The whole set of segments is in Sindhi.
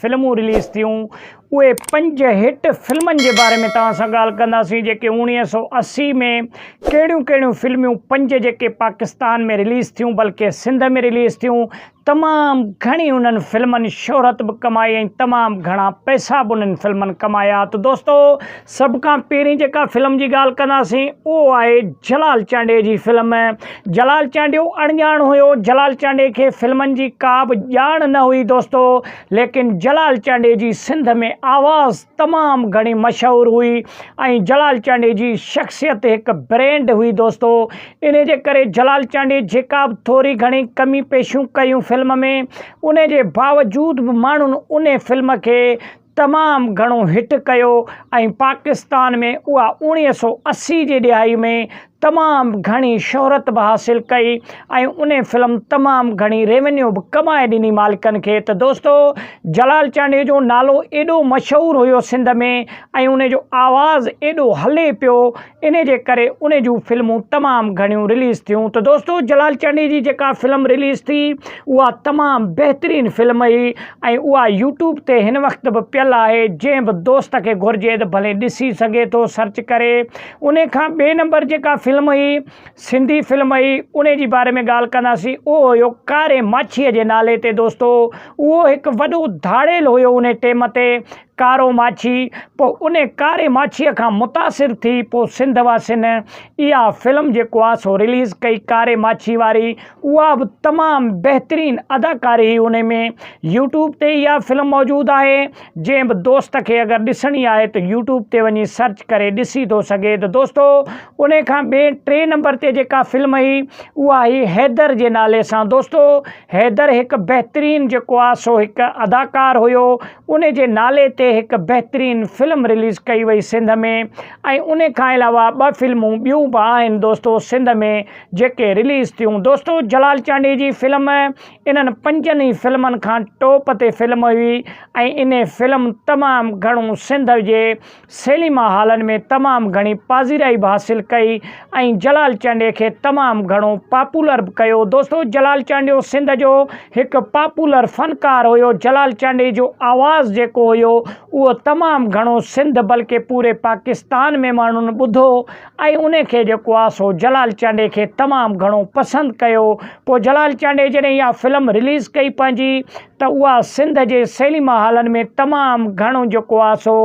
فلمون رليز ٿيون، اهي پنج هٽ فلمن جي باري ۾ توهان سان ڳالهه ڪنداسين جيڪي اڻويهه سؤ اسي ۾ ڪهڙيون ڪهڙيون فلميون پنج جيڪي پاڪستان ۾ رليز ٿيون بلڪه سنڌ ۾ رليز ٿيون تمام گهڻي انهن فلمن شهرت به ڪمائي ۽ تمام گهڻا پئسا به انهن فلمن ڪمايا ته دوستو سڀ کان پهرين جيڪا فلم جي ڳالهه ڪنداسين اهو آهي جلال چانڊيي جي فلم. جلال چانڊيو اڻڄاڻ هيو، جلال چانڊيي کي فلمن جي ڪا به ڄاڻ نه هئي دوستو، ليڪن جلال چانڊيي جي سنڌ ۾ آواز تمام گهڻي مشهور هئي ۽ جلال چانڊيي جي شخصيت هڪ برينڊ هئي دوستو، انهي جي ڪري جلال چانڊيي جيڪا به ٿوري گهڻي ڪمي پيشيون ڪيون فلم ۾ انهي جي باوجود به ماڻهن انهي فلم کي تمام گهڻو هٽ ڪيو ۽ پاڪستان ۾ اها اوڻيهه سؤ اسي جي ڏهائي ۾ تمام گهڻي شهرت به حاصل ڪئي ۽ ان فلم تمام گهڻي ريونيو به ڪمائي ڏني مالڪن کي ته دوستو جلال چانڊيو جو نالو ايڏو مشهور هيو سنڌ ۾ ۽ ان جو آواز ايڏو هلي پيو انهي جي ڪري انهي جون فلمون تمام گهڻيون رليز ٿيون ته دوستو جلال چانڊئي جي جيڪا فلم رليز ٿي اها تمام بهترين فلم هئي ۽ اها يوٽيوب تي هن وقت به پيل آهي جنهن به دوست کي گهرجي ته ڀلي ڏسي سگهي ٿو سرچ ڪري انهي کان ٻئي نمبر جيڪا فلم هئي سنڌي فلم هئي انهي جي باري ۾ ڳالهه ڪنداسين اهو هيو ڪاري ماڇيء جي نالي تي دوستو اهو هڪ وڏو ڌاڙيل هيو انهي ٽيم تي ڪارو ماڇي، پوء ان ڪاري ماڇيء کان متاثر ٿي پوء سنڌ واسين اها فلم جيڪو آ سو رليز ڪئي ڪاري ماڇي واري اها به تمام بهترين اداڪاري هئي ان ۾ يوٽيوب تي اها فلم موجود آهي جنهن به دوست کي اگر ڏسڻي آهي ته يوٽيوب تي وڃي سرچ ڪري ڏسي ٿو سگهي ته دوستو ان کان ٻئي ٽي نمبر تي جيڪا فلم هئي اها هئي حيدر جي نالي سان دوستو حيدر هڪ بهترين جيڪو آ سو هڪ اداڪار هيو ان جي نالي تي هڪ بهترين فلم رليز ڪئي وئي سنڌ ۾ ۽ ان کان علاوه ٻه فلمون ٻيون به آهن دوستو سنڌ ۾ جيڪي رليز ٿيون دوستو جلال چانڊيي جي فلم انهن پنجن ئي فلمن کان ٽوپ تي فلم هئي ۽ ان فلم تمام گهڻو سنڌ جي سيليما هالن ۾ تمام گهڻي پاذيرائي به حاصل ڪئي ۽ جلال چانڊيي کي تمام گهڻو پاپولر به ڪيو. دوستو جلال چانڊيو سنڌ جو هڪ پاپولر فنڪار هيو. جلال چانڊيي جو آواز جيڪو هيو اهو تمام گهڻو سنڌ بلڪه پوري پاڪستان ۾ ماڻهن ٻڌو ۽ ان کي جيڪو آ سو جلال چانڊيي کي تمام گهڻو پسند ڪيو. پوء جلال چانڊيي جڏهن اها فلم رليز ڪئي پنهنجي. ته اها سنڌ جي سينيما هالن ۾ تمام گهڻو جيڪو آ سو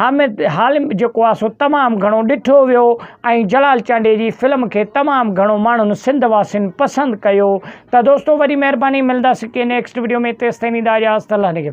حامد حالم جيڪو آ سو تمام گهڻو ڏٺو ويو ۽ جلال چانڊيي جي فلم کي تمام گهڻو ماڻهن سنڌ واسين پسند ڪيو ته دوستو وڏي مهرباني ملنداسين ڪنهن نيڪسٽ وڊيو ۾ تيستائين ويندا اجازت الله نگهبان.